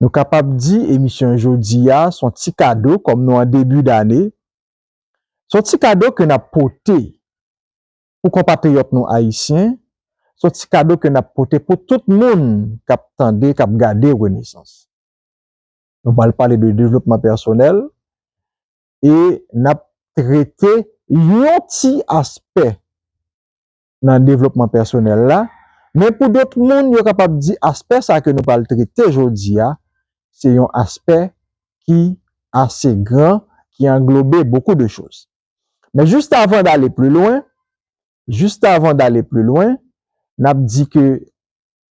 Nou kapab di emisyon jodi a s on ti kado kòm nou an debi dane, s on ti kado ke n ap pote pou konpatriyòt nou ayisyen, s on ti kado ke n ap pote pou tout moun k ap tande, k ap gade Renesans. Nou pral pale de devlopman pèsonèl e n ap trete yon ti aspè nan devlopman pèsonèl la, men pou dòt moun yo kapab di aspè sa ke nou pral trete jodi a, se yon aspè ki ase gran, ki anglobe bokou de choz. Men jist avan dale pli lwen, jist avan dale pli lwen, nap di ke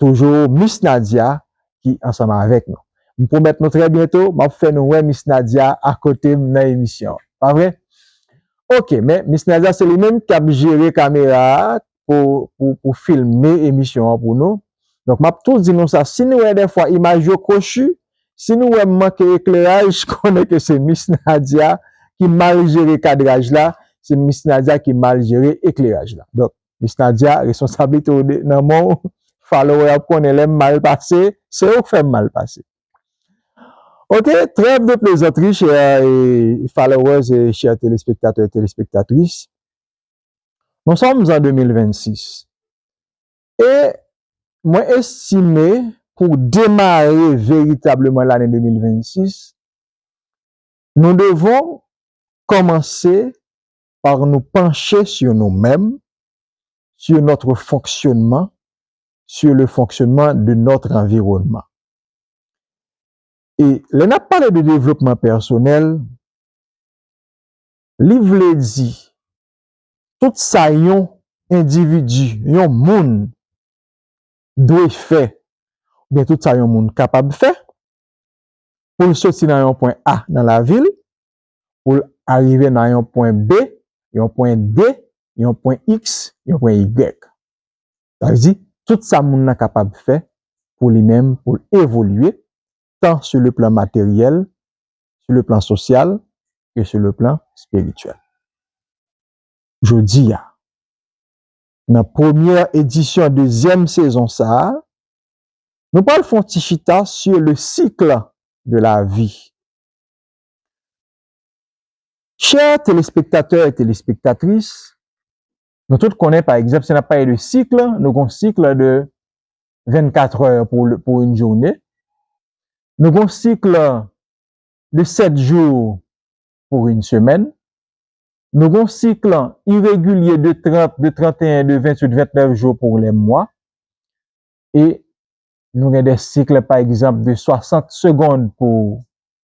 Toujou Miss Nadia ki ansanm avèk nou. M pwomèt nou trè byento m ap fè nou wè Miss Nadia akote m nan emisyon an. Pa vre? Ok, men Miss Nadia se li menm k ap jere kamera a pou filme emisyon an pou nou. Donk m ap tou di nou sa, si nou wè dèfwa imaj yo kwochi, si nou wè m manke ekleraj, konnen ke se Miss Nadia ki mal jere kadraj la, se Miss Nadia ki mal jere ekleraj la. Donk, Miss Nadia responsablite w nan men w followè yo ap konnen lè m mal pase se yo k fè m mal pase ok trèv de plezantri chè followers e chè telespektatè e telespektatris nou sòm an 2026 e mwen estime pou demare veritableman lane 2026 nou devon kòmanse par nou panche sur nou menm, sur notre fonctionnement, sur le fonctionnement de notre environnement. E lè nap pale de devlopman pèsonèl, li vle di tout sa yon endividi, yon moun dwe fè, oubyen tout sa yon moun kapab fè, poul soti nan yon pwen A nan lavil, pou l arive nan yon pwen B, yon pwen D, yon pwen X, yon pwen Y. Sa vle di, tout sa moun nan kapab fè pou li menm pou l evolye, tan sou le plan materyèl, sou le plan sosyal, ke sou le plan espirityèl. Jodi a, nan premyè edisyon dezyèm sezon sa a, nou pral fè yon ti chita sou le cycle de la vie. Chè telespektatè e telespektatris, nou tout konnen pa egzanp si n ap pale de sikl, nou gen yon sikl de 24 è pou yon joune, nou gen yon sikl de 7 jou pou yon semèn, nou gen yon sikl iregilye de 30, de 31, de 28, 29 jou pou lè mwa e nou gen de sikl pa egzanp de 60 segond pou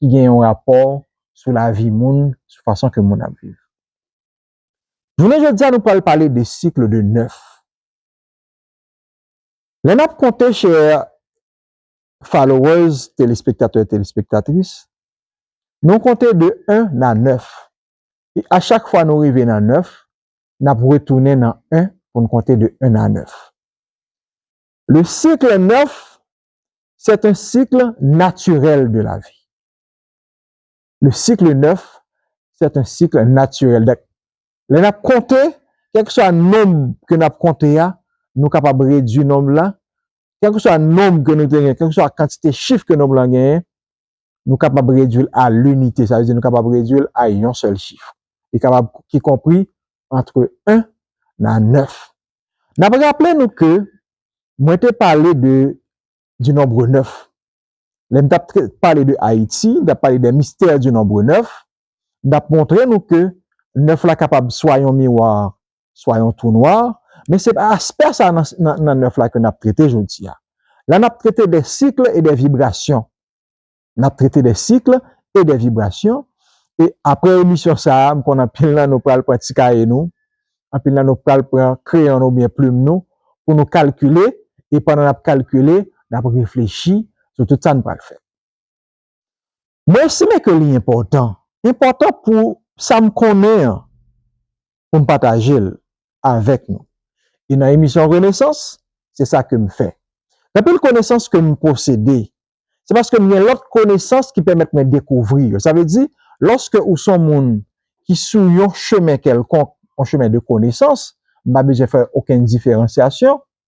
ki gen yon rapò sou lavi moun, sou fason ke moun ap viv. Jounen jodi a nou pral pale de cycle de 9. Lè nap konte chers followers, telespektatè, telespektatris, nou konte de 1 na 9 e a chak fwa nou rive nan 9, nap retounen nan 1 pou nou konte de 1 na 9. Le cycle 9 c'est un cycle naturel de la vie le cycle 9 c'est un cycle naturel dèk lè nap konte kèlkeswa nonb ke nap konte a nou kapab redwi nonb la kèlkeswa nonb ke nou te gen kèlkeswa kantite chif ke nonb la genyen nou kapab redui l a linite, sa vle di nou kapab redui l a yon sèl chif, li kapab ki konpri antre 1 nan 9. N ap raple nou ke mwen te pale de du nombre 9, lè m t ap pale de Ayiti, m t ap pale des mystères du nombre 9, m t ap montre nou ke 9 la kapab swa yon miwa swa yon twou nwa, men se pa aspè sa nan 9 la ke n ap trete jodi a. La n ap trete de cycle e de vibration. N ap trete de cycle e de vibration e apre emisyon sa a, m konn anpil nan nou pral pran ti kaye nou, anpil nan nou pral pran kreyon nou oubyen plim nou pou nou kalkile e pandan n ap kalkile, n ap reflechi sou tout sa n pral fè. Mwen estime ke li enpòtan, enpòtan pou sa m konnen an, pou m pataje l avèk nou. E nan emisyon Renesans, se sa ke m fè. Gen anpil konesans ke m posede, se paske m gen lòt konesans ki pèmèt mwen dekouvri yo. Sa vle di, lòske ou son moun ki sou yon chemen kèlkonk, yon chemen de konesans, m pa bezwen fè okenn diferansyasyon,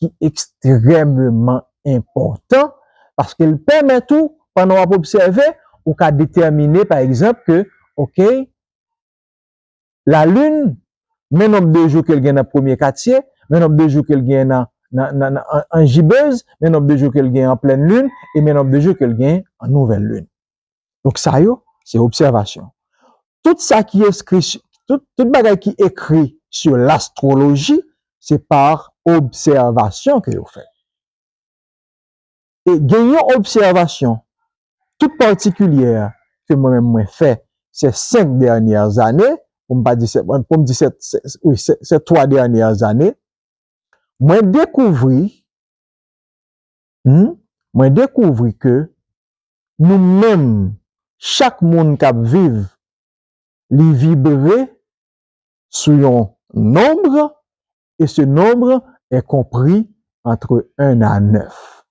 ki ekstrememan enpòtan, paske l pèmèt ou, pandan w ap obsève, ou ka detèmine, pa egzanp, ke, ok, lalin, men nonb de jou ke l gen nan premye katye, men nonb de jou ke l gen nan anjibez, men nonb de jou ke l gen an plèn lin, e men nonb de jou ke l gen an nouvèl lin. Donk sa yo, se obsèvasyon. Tout sa ki eskri, tout bagay ki ekri sou l'astroloji, se pa obsèvasyon ke yo fè. E gen yon obsèvasyon tout patikilyè ke mwen menm mwen fè se 5 dènyè zane, pou m pa di, pou m di se, wi, se 3 dènyè zane, mwen dekouvri, mwen dekouvri ke nou menm chak moun kap viv li vibre sou yon nombre et ce nombre est compris entre 1 à 9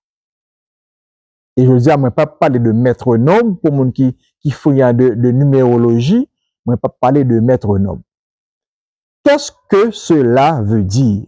et jodi a mwen pap pale de mètre nombre pou moun ki frian de numeroloji mwen pap pale de mètre nombre kès ke sela ve dire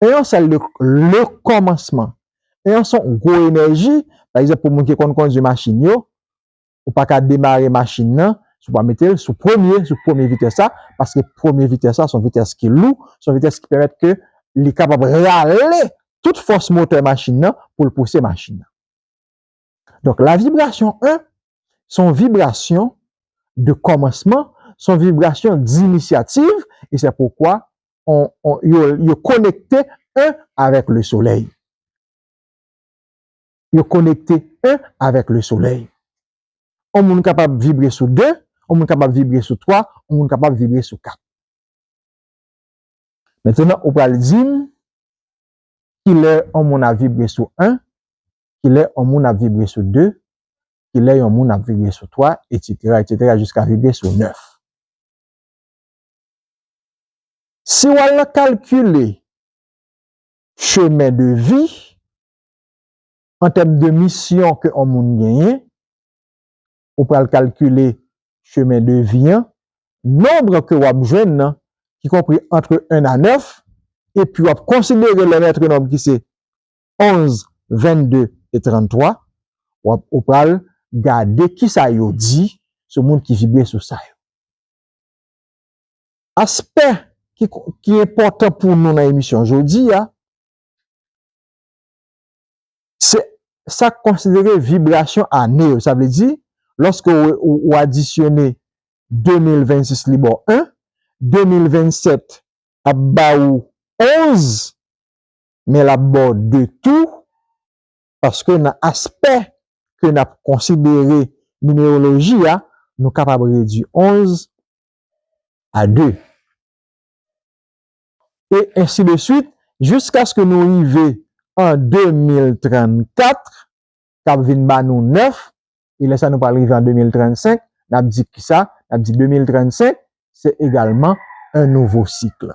E yon sèl de le kòmansman. E yon son gwo enèji, pa egzanp pou moun ki konn kondwi machin yo, ou pa ka demare machin nan si w pa mete l sou premye, sou premye vitès la, paske premye vitès la son vitès ki lou, son vitès ki pèmèt ke li kapab rale tout fòs motè machin nan pou l pouse machin nan. Donk la vibrasyon 1, son vibrasyon de kòmansman, son vibrasyon d'initiative, e se poukwa yo konekte 1 avèk le solèy. Yo konekte 1 avèk le solèy. On moun kapab vibre sou 2, on moun kapab vibre sou 3, on moun kapab vibre sou 4. Mentenan ou pral di m, kilè on moun ap vibre sou 1, kilè on moun ap vibre sou 2, kilè yon moun ap vibre sou 3, etsetera, etsetera jiska vibre sou 9. Si w al nan kalkile chemen de vi, an tèm de misyon ke on moun genyen, ou pral kalkile chemen de vi an, nonbre ke w ap jwenn nan ki konpri antre 1 a 9, epi w ap konsidere lè mètre nonb ki se 11, 22 e 33, w ap ou pral gade ki sa yo di sou moun ki vibre sou sa yo. Aspè ki enpòtan pou nou nan emisyon jodi a, se sa k konsidere vibrasyon ane yo. Sa vle di, lòske ou adisyone 2026 li ba w 1, 2027 ap ba ou 11, men l ap ba w de tou paske nan aspè ke n ap konsidere nimewoloji a, nou kapab redui 11 a 2. E ensi de suit jiskaske nou rive an 2034 k ap vin ba nou 9 e lè sa nou pral rive an 2035 n ap di ki sa, n ap di 2035 se egalman un nouveau cycle.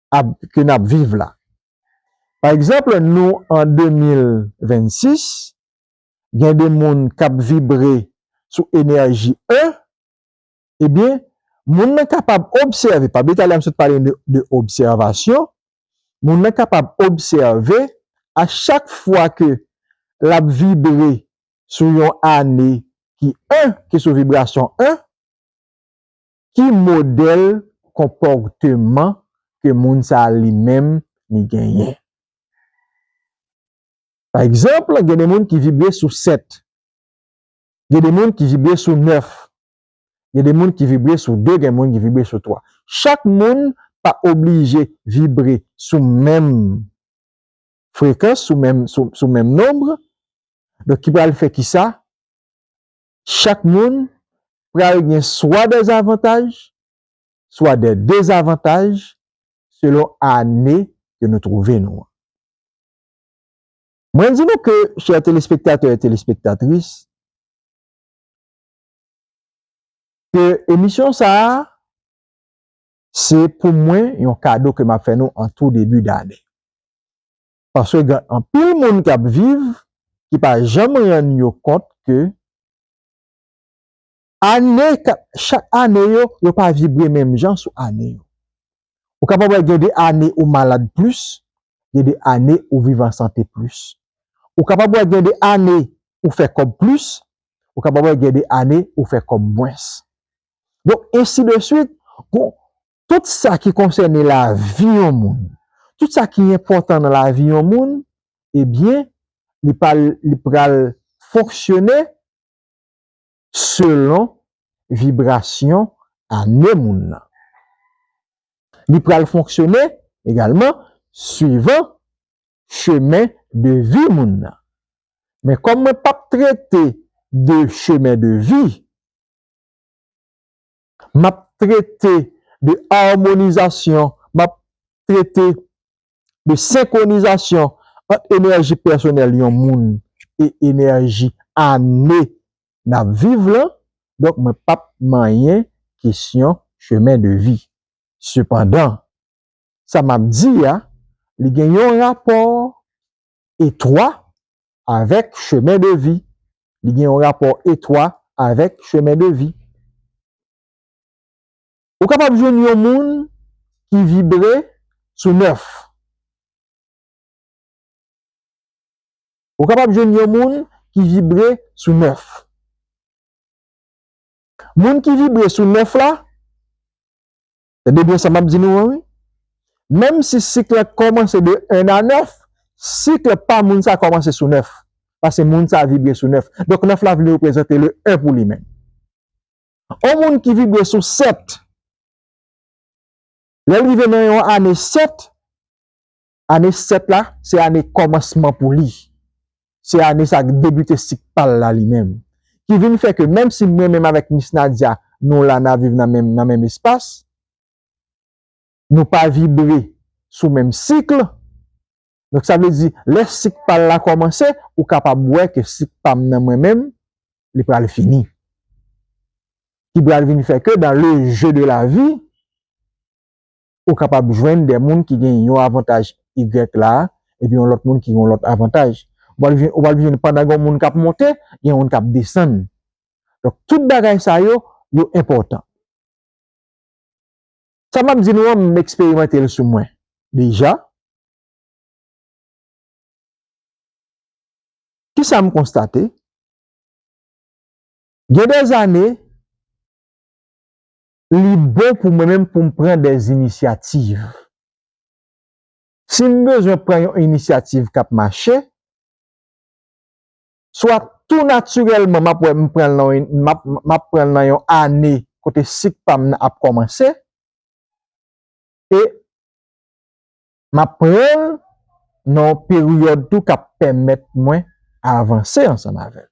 ap ke nap viv la. Pa ekzanple nou an 2026 gen de moun kap vibre sou enèji 1 ebyen moun nan kapab obsève pa deta la m sot pale nou de obsèvasyon moun nan kapab obsève a chak fwa ke lap vibre sou yon ane ki 1 ki sou vibrasyon 1 Ki modèl konpòteman ke moun sa a li menm li genyen? Pa egzanp, gen de moun ki vibre sou 7, gen de moun ki vibre sou 9, gen de moun ki vibre sou 2, gen moun ki vibre sou 3. Chak moun pa oblije vibre sou menm frekans, sou menm nonb, donk ki pral fè ki sa? chak moun pral gen swa dè avantaj, swa dè dezavantaj selon ane ke nou trouve nou an. Mwen di nou ke chè telespektatè e telespektatris, ke emisyon sa a, se pou mwen yon kado ke m ap fè nou an tou debi dane. paske gen anpil moun k ap viv ki pa janm rann yo kont ke ane k ap chak ane yo, yo pa vibre menm jan sou ane yo. Ou kapab wè gen de ane ou malad plis, gen de ane ou viv an sante plis. Ou kapab wè gen de ane ou fè kòb plis, ou kapab wè gen de ane ou fè kòb mwens. Donk ensi de swit, gon Tout sa ki konsène lavi yon moun, tout sa ki enpòtan nan lavi yon moun, ebyen, li pa l, li pra l fonksyone selon vibrasyon ane moun nan. Li pra l fonksyone egalman swivan chemen de vi moun nan. Men kòm mwen p ap trete de chemen de vi, M ap trete de amonizasyon, m ap trete de senkwonizasyon ant enèji pèsonèl yon moun e enèji ane n ap viv lan, donk mwen p ap manyen kesyon chemen de vi. Sepandan, sa m ap di a, li gen yon rapò etwa avèk chemen de vi. Li gen yon rapò etwa avèk chemen de vi. Ou kapab jwenn yon moun ki vibre sou 9. Ou kapab jwenn yon moun ki vibre sou 9. Moun ki vibre sou 9 la, Tande byen sa m ap di nou an wi, menm si sik la kòmanse de 1 a 9, sik la pa moun sa kòmanse sou 9, pase moun sa vibre sou 9, donk 9 la vle reprezante le 1 pou li menm. On moun ki vibre sou 7, lè l rive nan yon ane 7, Ane 7 la, se ane kòmansman pou li. Se ane sa ki debite sik pa l la li menm. Ki vin fè ke menm si mwen menm avèk Miss Nadia nou la na viv nan menm nan menm espas, nou pa vibre sou menm sikl, donk sa vle di lè sik pa l la kòmanse, ou kapab wè ke sik pa m nan mwen menm, li pral fini. Ki pral vin fè ke dan le jeu de la vie, ou kapab jwenn de moun ki gen yon avantaj y la epi yon lòt moun ki gen yon lòt avantaj. Ou pral jwenn, ou pral jwenn pandan gen yon moun k ap monte, gen yon moun k ap desann. Donk, tout bagay sa yo, yo enpòtan. Sa m ap di nou an, m eksperimante l sou mwen deja. Kisa m konstate? Gen de zane, li bon pou mwen menm pou m pran dè inisyativ. Si m bezwen pran yon inisyativ k ap mache, swa tou natirèlman m ap wè m pran l m ap pran l nan yon ane kote sik pa m nan ap kòmanse e m ap pran l nan yon peryòd tou k ap pèmèt mwen avanse ansanm avè l.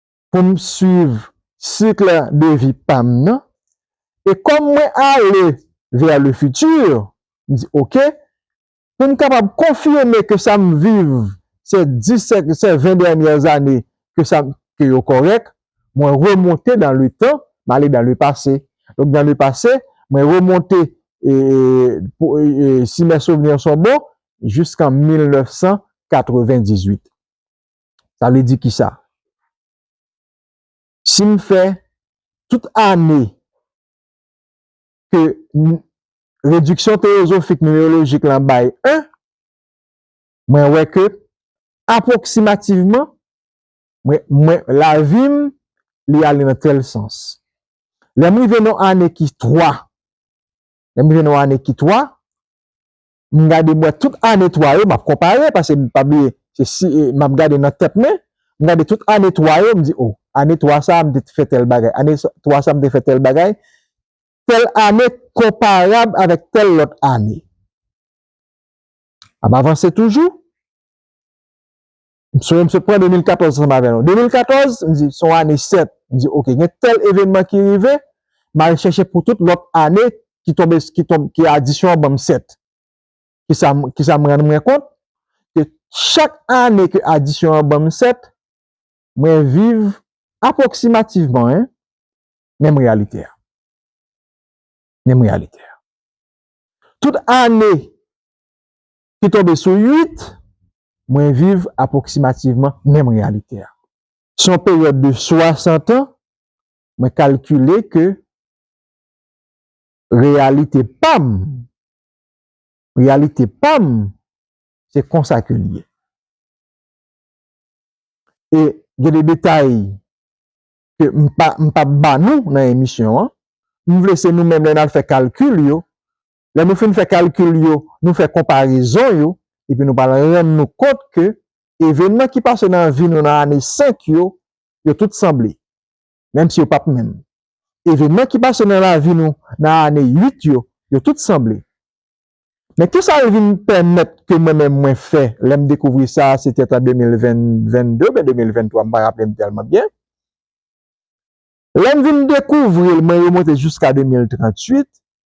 pou m swiv cycle de vie pa m nan e kòm mwen ale vers le futur m di ok pou m kapab konfime ke sa m viv se 10 se 20 dènyè zane ke sa m ke yo kòrèk mwen remonte dans le temps m ale dans le passé donk dans le passé mwen remonte e pou si mes souvenirs sont bons jiskan 1998. Sa vle di ki sa? Si m fè tout ane ke rediksyon teyozofik nimerolojik lan bay 1, mwen wè ke apwoksimativman, mwen, lavi m, li ale nan tèl sans. Lè m rive nan ane ki 3, lè m rive nan ane ki 3, m gade mwen tout ane 3 yo, m ap konpare pase m pa bliye se si m ap gade nan tèt mwen, m gade tout ane 3 yo m di o ane 3 sa m te fè tèl bagay, ane 3 sa m te fè tèl bagay, tèl ane konparab avèk tèl lòt ane. Ap avanse toujou. M sonje m sot pran 2014 ansanm avè nou. 2014, m di, se yon ane 7. M di, ok, gen tèl evenman ki rive, m al chèche pou tout lòt ane ki tonbe, ki tonbe, ki adisyon an ban m 7. Kisa m, kisa m rann mwen kont? Ke chak ane ke adisyon an ban m 7, mwen viv apwoksimativman, hein, menm reyalite a. Menm reyalite a. Tout ane ki tonbe sou 8, mwen viv apwoksimativman menm reyalite a. Sou yon peryòd de 60 an, mwen kalkile ke reyalite pa m, reyalite pa m, se konsa ke li ye. E gen de detay ke m pa, m p ap ba nou nan emisyon an, m vle se nou menm lè n al fè kalkil yo, Lè nou fin fè kalkil yo, nou fè konparezon yo, epi nou pral rann nou kont ke evenman ki pase nan vi nou nan ane 5 yo, yo tout sanble, menm si yo p ap menm. Evenman ki pase nan lavi nou nan ane 8 yo, yo tout sanble. Men kisa l vin pèmèt ke mwen menm mwen fè lè m dekouvri sa, se te t an 2022 oubyen 2023, m pa raple m tèlman byen. Lè m vin dekouvri l, mwen remonte jiska 2038,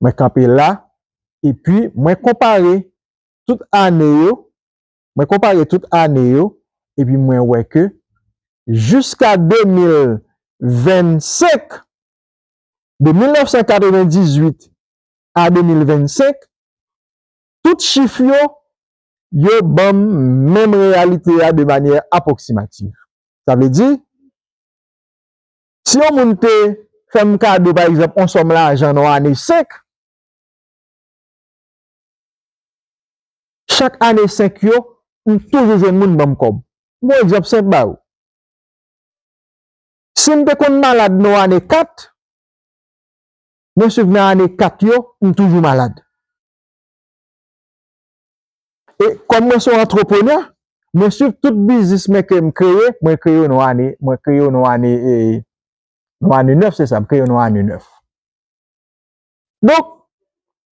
Mwen kanpe la, epi mwen konpare tout ane yo, mwen konpare tout ane yo, epi mwen wè ke jiska 2025, de 1998 a 2025, tout chif yo, yo ban m menm reyalite a de manyè apwoksimativ. Sa vle di, Si yon moun te fè m kado pa egzanp yon sòm lajan nan yon ane 5, chak ane 5 yo, m toujou jwenn moun ban m kòb. M pran yon egzanp senp ba ou. Si m te konn malad nan yon ane 4, mwen suiv nan ane 4 yo, m toujou malad. E kòm mwen se yon antreprenè, mwen swiv tout biznis men ke m kreye, mwen kreye yo nan yon ane, mwen kreye yo nan yon ane e, nan yon ane nèf se sa, m kreye yo nan yon ane nèf. Donk,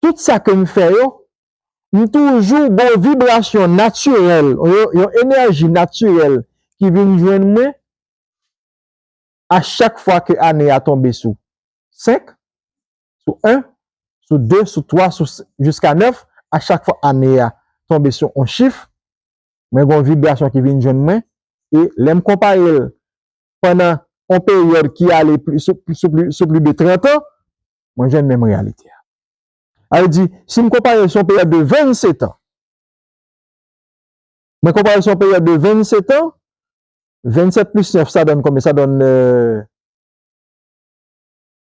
tout sa ke m fè yo, m toujou gen yon vibrasyon natirèl, yon enèji natirèl ki vin jwenn mwen a chak fwa ke ane a tonbe sou 5, sou 1, sou 2, sou 3, sou jiska 9, a chak fwa ane a tonbe sou yon chif, mwen gen yon vibrasyon ki vin jwenn mwen, e lè m konpare l pandan yon peryòd ki ale sou pli de 30 an, mwen jwenn menm reyalite a. Sa vle di, si m konpare l sou yon peryòd de 27 an, mwen konpare l sou yon peryòd de 27 an, 27 plis 9 sa donn konbyen? Sa donn.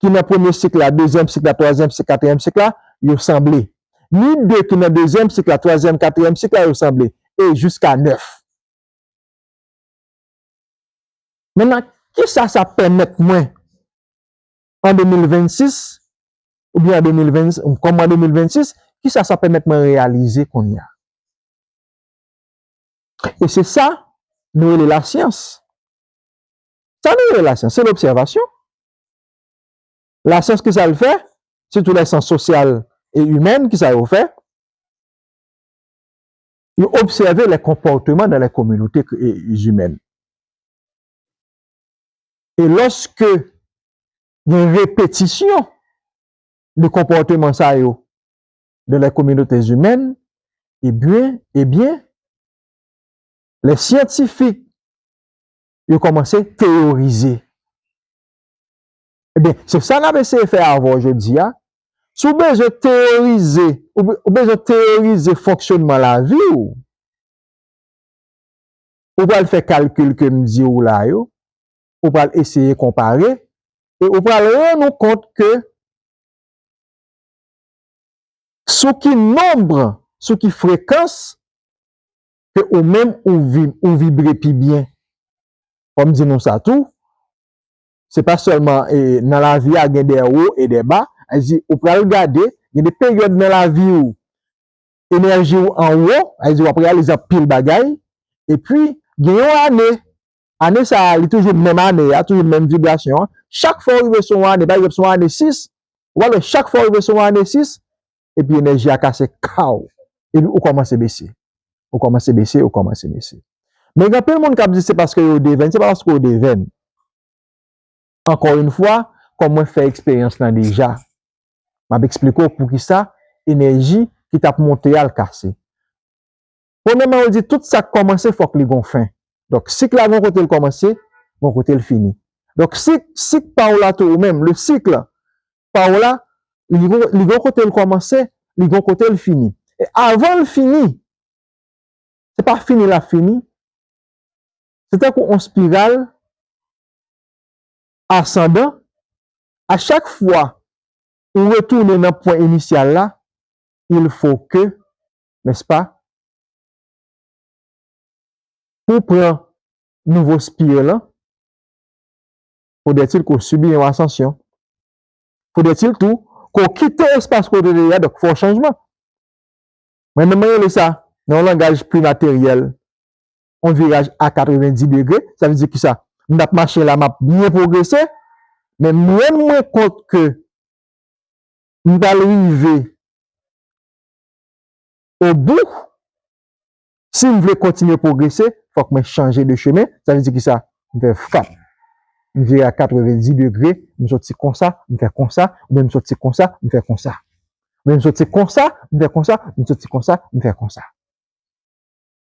ki nan premye sik la, dezyèm sik la, twazyèm sik, katriyèm sik la, yo sanble. Ni de ki nan dezyèm sik la, twazyèm, katriyèm sik la, yo sanble. E jiska nèf. Mennan, ki sa sa pèmèt mwen an 2026, ou byen an 2020, kòm mwen an 2026, ki sa sa pèmèt mwen reyalize kounye a? E se sa nou rele lasyans. Sa nou rele lasyans, se lobsèvasyon. Lasyans ki sa l fè? Sitou lè syans sosyal e imèn ki sa yo fè? Yo obsève lè konpòteman nan lè kominote imèn. E lòske gen repetisyon de konpòteman sa yo nan lè kominote imèn, e byen, e byen, lè syantifik yo kòmanse teyorize. Ebyen, se sa n ap eseye fè avè w jodi a. Si w bezwen teyorize, ou bezwen teyorize fonksyonnman lavi w, ou pral fè kalkil ke m di w la yo, ou pral eseye konpare, e ou pral rann ou kont ke sou ki nonb, sou ki frekans ke ou menm ou vib ou vibre pi byen fòm di nou sa tou se pa sèlman e nan lavi a gen dè wo e dè ba a di ou pral gade gen de peryòd nan lavi ou enèji ou an wo a di wap reyalize anpil bagay epi gen yon ane ane sa li toujou menm ane a toujou menm vibrasyon an chak fwa ou rive sou yon ane pa egzanp sou ane 6 wap wè chak fwa ou rive sou yon ane 6 epi enèji a kase kaw epi ou kòmanse bese, ou kòmanse bese, ou kòmanse bese. Men gen anpil moun k ap di se paske yo devèn, se pa paske ou devèn. Ankò yon fwa, kòm mwen fè eksperyans lan deja, m ap eksplike w poukisa enèji ki t ap monte a l kase. Premyèman yo di tout sa k kòmanse fòk li gon fen. Donk sik la gon kote l kòmanse, gon kote l fini. Donk si sik pa w la tou ou menm, le cycle, Paola, li gen yon kote l kòmanse, li gen yon kote l fini. E avan l fini, se pa fini l ap fini, se tankou yon spiral asandan, a chak fwa ou retounen nan pwen inisyal la, il fo ke, nèspa, pou w pran nouvo spir lan, Foudètil ke w sibi yon asansyon. Foudètil tou ke w kite espas kote w te ye a, donk fè yon chanjman. Mwen menm mwen rele sa, nan yon langaj pli materyèl, yon viraj a 90 degre. Sa vle di ki sa? M ap mache la, m ap byen pwogrese, men m rann mwen kont ke m pral rive obou. Si m vle kontinye pwogrese, fòk mwen chanje de chemen, sa vle di ki sa? M fè fap, m vire a katrevendidi degre, m soti konsa, m fè konsa, oubyen m soti konsa, m fè konsa. Oubyen m soti konsa, m fè konsa, m soti konsa, m fè konsa.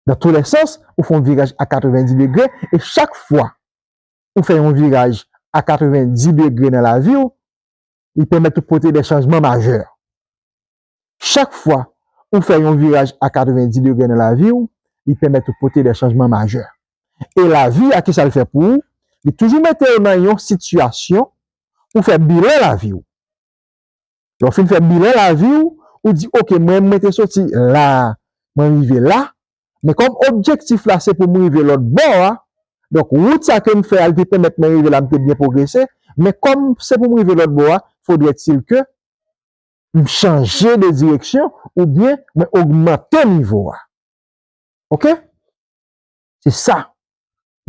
Nan tou lè sans, ou fè yon viraj a katrevendidi degre, e chak fwa ou fè yon viraj a katrevendidi degre nan lavi ou, li pèmèt ou pote de chanjman majè. Chak fwa ou fè yon viraj a 90 degre nan lavi ou, li pèmèt ou pote de chanjman majè. E lavi a kisa l fè pou ou? Li toujou mete ou nan yon sitiyasyon pou w fè bilan lavi ou. Lè w fin fè bilan lavi ou, ou di ok mwen mwen te soti la a, mwen rive la, men kòm objektif la se pou m rive lòt bò a, donk wout sa ke m fè a li te pèmèt mwen rive la m te byen pwogrese, men kòm se pou m rive lòt bò a, fodrèt il ke m chanje de direksyon oubyen mwen ogmante nivo a. Ok? Se sa.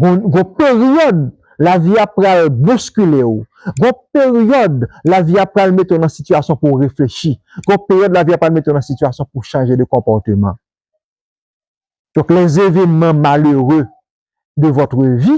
Gon gon peryòd lavi a pral boskile ou. Gon peryòd lavi a pral mete w nan sitiyasyon pou w reflechi. Gon peryòd lavi a pral mete w nan sitiyasyon pou w chanje de konpòteman. Donk lèzevènman malere de vòtre vi.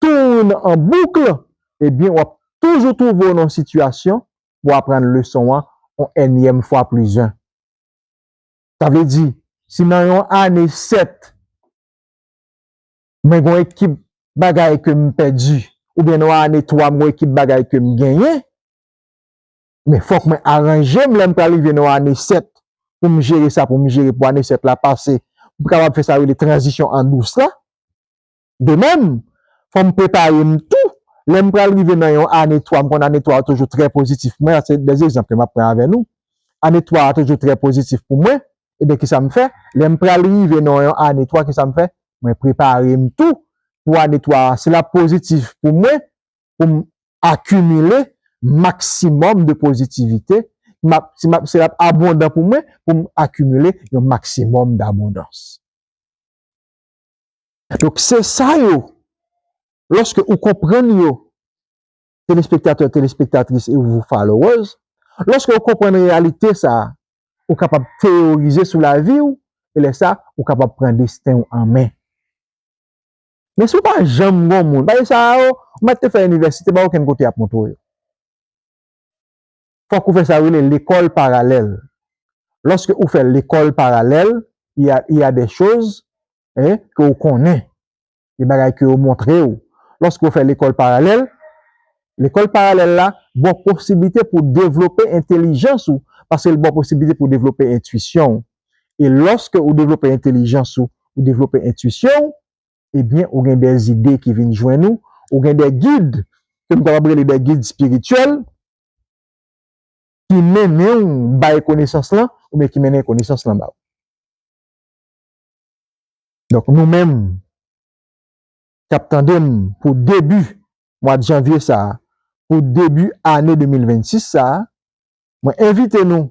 Tourne en boucle ebyen wap toujou trouve w nan yon sitiyasyon pou w aprann leson an yon ènyèm fwa plis 1. Sa vle di si nan yon ane 7 mwen gen yon ekip bagay ke m pèdi oubyen nan yon ane 3 mwen gen yon ekip bagay ke m genyen men fòk mwen aranje m lè m pral rive nan yon ane 7 pou m jere sa pou m jere pou ane 7 la pase m kapab fè sa yo rele tranzisyon an dous la. De mèm, fò m prepare m tou lè m pral rive nan yon ane 3, m konn ane 3 a toujou trè pozitif pou mwen, se de egzanp ke m ap pran avè nou, ane 3 a toujou trè pozitif pou mwen, ebyen ki sa m fè, lè m pral rive nan yon ane 3 ki sa m fè, mwen prepare m tou pou ane 3 a si l ap pozitif pou mwen, pou m akimile maksimòm de pozitivite, si l ap abondan pou mwen, pou m akimile yon maksimòm dabondans. Donk se sa yo, lòske ou konprann yo, telespektatè, telespektatris e ou followers, lòske ou konprann reyalite sa, ou kapab teyorize sou lavi ou, e lè sa, ou kapab pran desten ou an men. Men si ou pa janm gen yon moun, paske sa yo, ou mèt te fè inivèsite, pa gen okenn kote y ap montre w yo. fòk ou fè sa yo rele lekòl paralèl. Lòske ou fè lekòl paralèl, y a, y a des choses, hein, ke ou konnen, gen bagay ke yo montre ou. Lòske ou fè lekòl paralèl, lekòl paralèl la ba w posiblite pou w devlope entelijans ou, paske l ba w posiblite pou w devlope entuisyon ou. E lòske ou devlope entelijans ou, ou devlope entuisyon ou, ebyen ou gen des ide ki vin jwenn ou, ou gen des guides ke m kapab rele des guides spirituels ki mennen w bay konesans lan oubyen ki mennen konesans lan ba ou. Donk nou menm k ap tande m pou debi mwad janvye sa, pou debi ane 2026 sa, mwen envite nou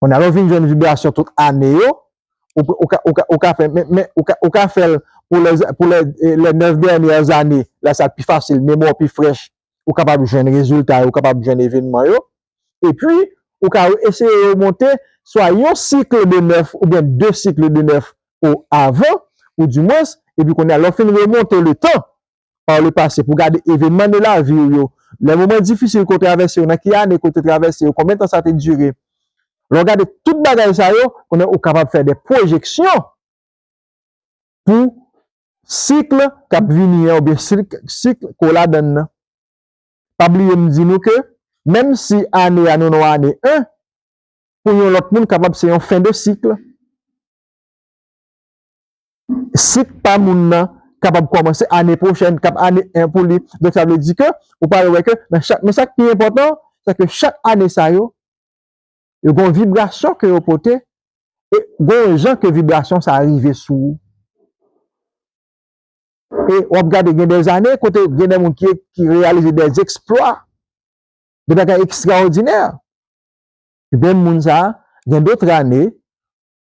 Kounye a lè w fin jwenn vibrasyon tout ane yo, ou ka fè men, ou ka fè l pou lè les neuf dernières années, lè sa pi fasil, memwa w pi frèch, ou kapab jwenn rezilta yo, ou kapab jwenn evenman yo. Epi, ou ka eseye remonte swa yon cycle de neuf oubyen de cycle de neuf ou avan, ou di mwens, epi kounye a lè w fin remonte le tan, pa w le pase pou gade evenman de lavi w yo, lè moman difisil ke w travèse yo, nan ki ane ke w te travèse yo, konbyen tan sa te dire. Lè w gade tout bagay sa yo, kounye a ou kapab fè de pwojeksyon pou sikl k ap vini an oubyen sikl ke w ladann nan. Pa bliye m di nou ke menm si ane a nou nan yon ane 1, pou yon lòt moun kapab se yon fen de sikl. sik pa moun nan kapab kòmanse ane pwochèn, k ap ane 1 pou li. Donk sa vle di ke ou pral wè ke nan chak, men sa k pi enpòtan, se ke chak ane sa yo, yo gen yon vibrasyon ke yo pote e gen yon jan ke vibrasyon sa rive sou ou. E w ap gade gen dè ane kote gen dè moun ki reyalize dè zèksplwa, dè bagay ekstraòdinè. Menm moun sa a, gen dotr ane,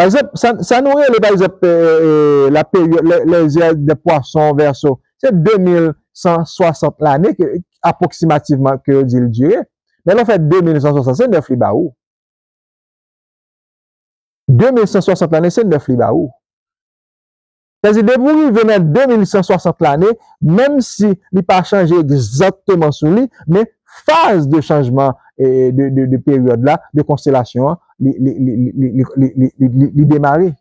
Pa egzanp, sa nou rele pa egzanp la peryòd, lè zè dè pwason, vèso, se 2160 lane ke apwoksimativman ke yo di l dire. Men lè w fè 2160 se 9 li ba ou. 2160 lane se 9 li ba ou. Sèdi depi w rive nan 2160 lane, menm si li pa chanje egzakteman sou li, men faz de chanjman de peryòd la, de konstelasyon an, li demare.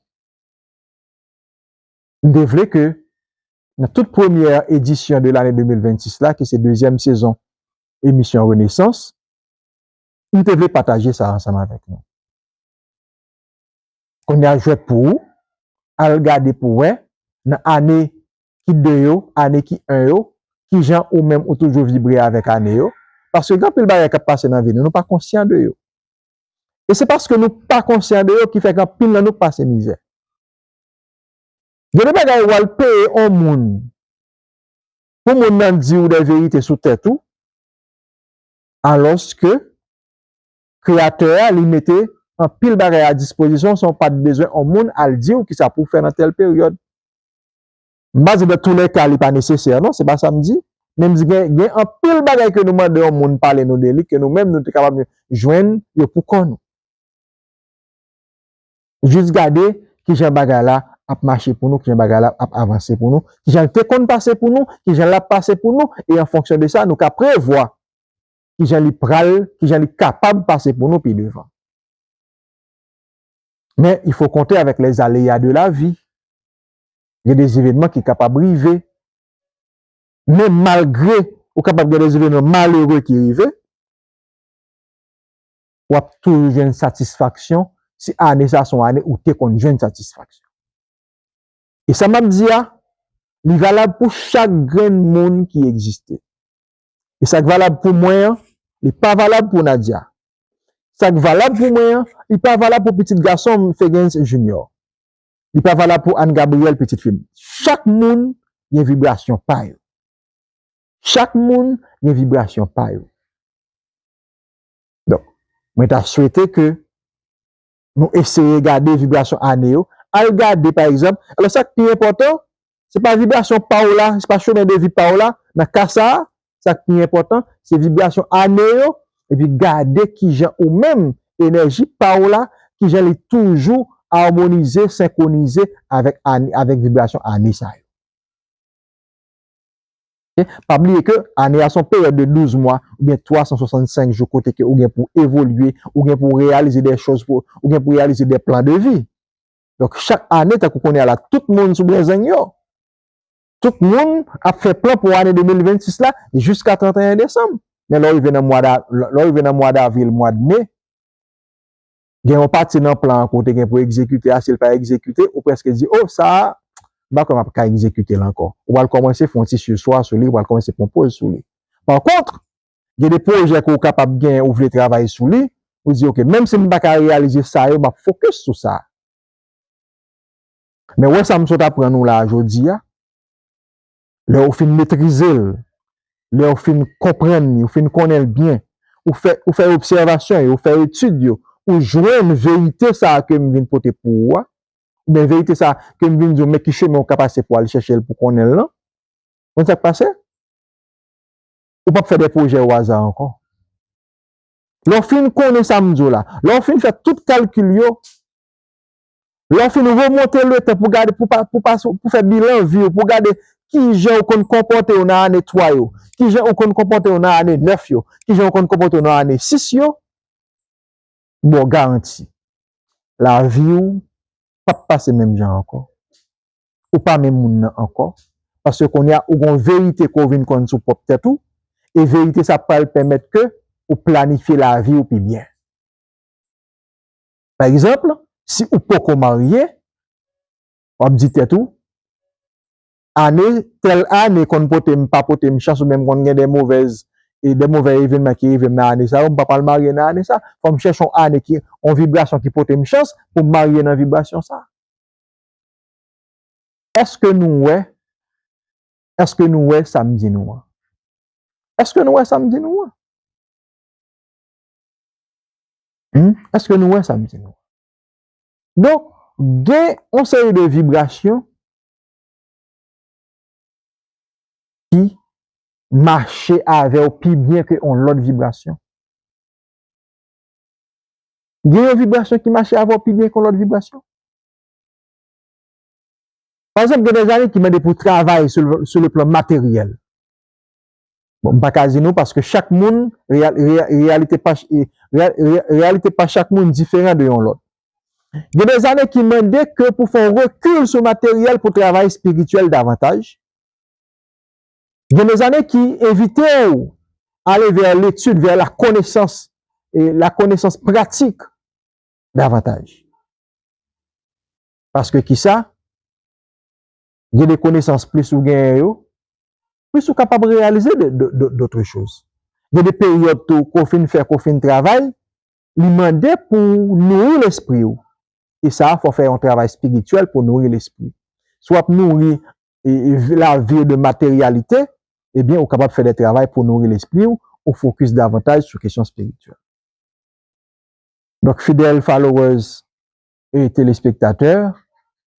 M te vle ke nan tout premyè edisyon de lane 2026 la, ki se dezyèm sezon emisyon Renesans, m te vle pataje sa ansanm avèk nou. Konnya jwèt pou ou, al gade pou wè nan ane ki 2 yo, ane ki 1 yo, kijan ou menm ou toujou vibre avèk ane yo, paske gen anpil bagay k ap pase nan vi nou, nou pa konsyan de yo. E se paske nou pa konsyan de yo ki fè anpil nan nou pase mizè. Gen de bagay ou al peye on moun pou moun nan di ou dè verite sou tèt ou, alòske Kreyatè a li mete anpil bagay a dispozisyon san w pa t bezwen on moun al di w kisa pou w fè nan tèl peryòd. M pa di dan tou lè ka li pa nesesè non, se pa sa m di. Men m di gen gen anpil bagay ke nou mande on moun pale nou de li ke nou menm nou te kapab jwenn yo pou kò nou. Jis gade kijan bagay la ap mache pou nou, kijan bagay la ap avanse pou nou, kijan l te konn pase pou nou, kijan l ap pase pou nou e an fonksyon de sa nou ka prevwa ki jan li pral, ki jan li kapab pase pou nou pi devan. Men, il fo konte avèk les aléas de la vie. Gen des événements ki kapab rive. Men malgre ou kapab gen des événements malheureux ki rive, w ap toujou jwenn satisfaksyon si ane sa a se yon ane ou te konn jwenn satisfaksyon. E sa m ap di a, li valab pou chak grenn moun ki egziste. E sa k valab pou mwen an, li pa valab pou Nadia. Sa k valab pou mwen an, li pa valab pou pitit gason m, Fegens Junior. Li pa valab pou Anne Gabrielle, pitit fi m. Chak moun gen vibrasyon pa yo. Chak moun gen vibrasyon pa yo. Donk, mwen ta swete ke nou eseye gade vibrasyon ane yo, al gade pa egzanp, alò sak pi enpòtan se pa vibrasyon pa w la, se pa chemen de vi pa w la, nan ka sa a sak pi enpòtan se vibrasyon ane yo epi gade kijan ou menm enèji pa w la kijan li toujou amonize, senkwonize avèk vibrasyon ane sa yo. Pa bliye ke ane a se yon peryòd de 12 mwa oubyen 365 jou kote ke ou gen pou evolye, ou gen pou reyalize de chòz, ou gen pou reyalize de plan de vi. Donk chak ane tankou kounye a la tout moun sou brezeng yo. Tout moun ap fè plan pou ane 2026 la jiska 31 desanm. Men lè w rive nan mwa da, lè w rive nan mwa davril, mwad me, gen yon pati nan plan an ke w te gen pou w egzekite a, si l pa egzekite, ou prèske di, o, sa a, m pa kwè m ap ka egzekite l ankò. Ou pral kòmanse fè yon ti sirswa sou li, ou pral kòmanse pran poz sou li. Pa kont, gen de pwojè ke w kapab gen, ou vle travay sou li, ou di, ok, menm si m pa ka reyalize sa yo, m ap fokis sou sa a. Men wè sa m sot aprann ou la a jodi a, Lè ou fin metrize l, lè ou fin konprann li, ou fin konnen l byen, ou fè ou fè obsèvasyon yo, ou fè etid yo, ou jwenn verite sa a ke m vin pote pou ou a, oubyen verite sa a ke m vin di w men ki chemen ou ka pase pou w al chèche l pou w konnen l lan, ou konn sa k pase? Ou p ap fè de pwojè oaza ankò. Lè w fin konnen sa m di w la, lè w fin fè tout kalkil yo, Lè w fin remonte le tan pou fè bilan vi w, pou gade ki jan ou konn konpòte w nan ane 3 yo, ki jan ou konn konpòte w nan ane 9 yo, ki jan ou konn konpòte w nan ane 6 yo, m ba w garanti, lavi w p ap pase menm jan ankò. Ou pa menm moun nan ankò, paske kounye a ou gen yon verite ke w vin konn sou pwòp tèt ou, e verite sa pral pèmèt ke ou planifye lavi w pi byen. Pa egzanp, si ou poko marye, w ap di tèt ou, Ane, tèl ane konn pote m, pa pote m chans oubyen m konn gen de movèz, de movè evenman ki rive m nan ane sa yo, m pa pral marye nan ane sa. Fò m chèche yon ane ki, yon vibrasyon ki pote m chans pou m marye nan vibrasyon sa. Èske nou wè, èske nou wè sa m di nou an? Èske nou wè sa m di nou an? Humm eske nou wè sam di nou an donk gen yon seri de vibrasyon ki mache avèw pi byen ke yon lòt vibrasyon gen yon vibrasyon ki mache avèw pi byen ke yon lòt vibrasyon pa egzanp gen de zanmi ki mande pou travay sou le plan materyèl Bon m paka di nou paske chak moun reyalite pa reyalite pa chak moun diferan de yon lòt. Gen de zane ki mande ke pou fè yon rekil sou materyèl pou travay espirityèl davantaj. Gen de zane ki envite ou ale vè letid, vè la konesans e la konesans pratik davantaj. Paske kisa? gen de konesans plis ou genyen yo, plis ou kapab reyalize dotre choz. Gen de peryòd tou ke w fin fè, ke w fin travay, li mande pou w nouri lespri w. E sa fò w fè yon travay espirityèl pou w nouri lespri. Si w ap nouri lavi w de materyalite, ebyen ou kapab fè de travay pou w nouri lespri w, ou fokis davantaj sou kesyon espirityèl. Donk fidèl followers e telespektatè,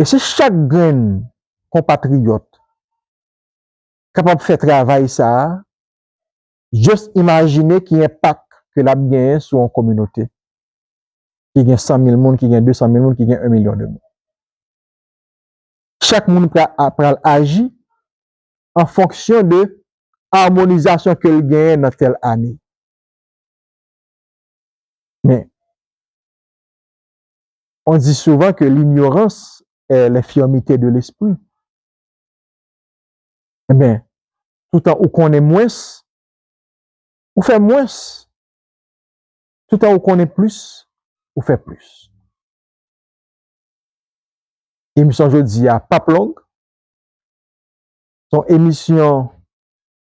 E si chak grenn konpatriyòt kapab fè travay sa a, just imajine ki enpak ke l ap genyen sou yon kominote ki gen 100 mil moun, ki gen 200 mil moun, ki gen 1 milyon de moun. Chak moun pral aji an fonksyon de amonizasyon ke l genyen nan tèl ane. Men, On di souvan ke linyorans è lenfirmite de lespri. Enben, toutan ou konnen mwens, ou fè mwens. Toutan ou konnen plis, ou fè plis. Emisyon jodi a pap long. Son emisyon,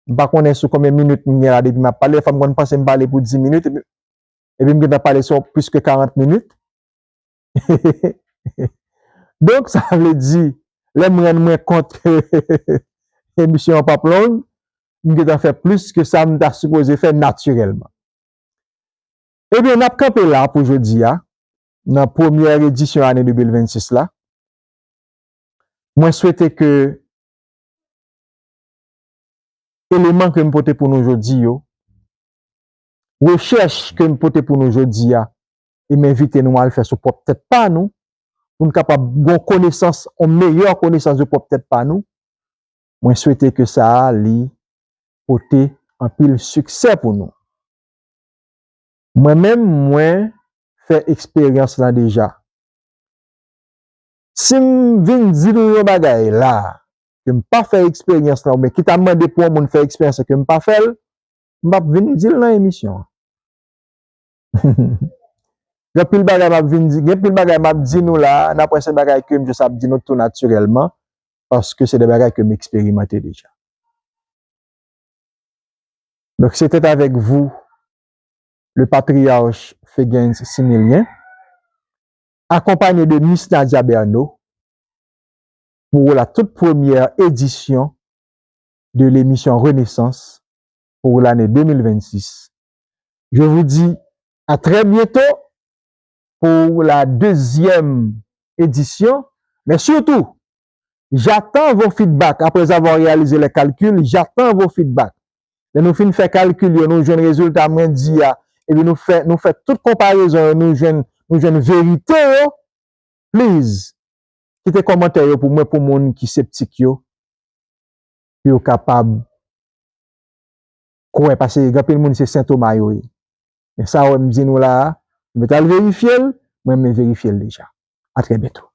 m pa konnen sou konbyen minit m gen la depi m ap pale. Dèfwa m konn panse m pale pou di minit epi epi m gentan pale sou plis ke 40 minit, donk sa vle di lè m rann mwen kont ke emisyon an p ap long, m gentan fè plis ke sa m ta sipoze fè natirèlman. Ebyen, n ap kanpe la pou jodi a, nan premyè edisyon ane 2026 la. Mwen swete ke eleman ke m pote pou nou jodi yo Rechèch ke m pote pou nou jodi a e m envite nou al fè sou pwòp tèt pa nou pou n kapab gon konesans, yon meyè konesans de pwòp tèt pa nou, mwen swete ke sa a li pote anpil siksè pou nou. Mwen menm mwen fè eksperyans lan deja. Si m vin di nou yon bagay la a ke m pa fè eksperyans lan oubyen ki ta mande pou yon moun fè eksperyans lan ke m pa fè l, M pap vin di l nan emisyon an. Gen anpil bagay m ap vin di, gen anpil bagay m ap di nou la a, nanpwen se bagay ke m jis ap di nou tou natirèlman, paske se de bagay ke m eksperimante deja. Donk se tèt avèk vou le patriyarch Fegens Similyen, akonpanye de Mis Nadia Bernaud, pou w la tout premyè edisyon de l'émission Renaissance pour l'année 2026. Je vous dis à très bientôt pour la deuxième édition mais surtout j'attends vos feedback après avoir réalisé les calculs j'attends vos feedback lè nou fin fè calcul yo nou jwenn résultat mwen di a epi nou fè nou fè tout comparaison yo nou jwenn nou jwenn vérité yo please kite kòmantè yo pou mwen pou moun ki septik yo. pou yo kapab kwè pase gen anpil moun se sentoma yo ye men sa wè m di nou la a nou mèt al verifye l mwen menm verifye l deja a trè byento.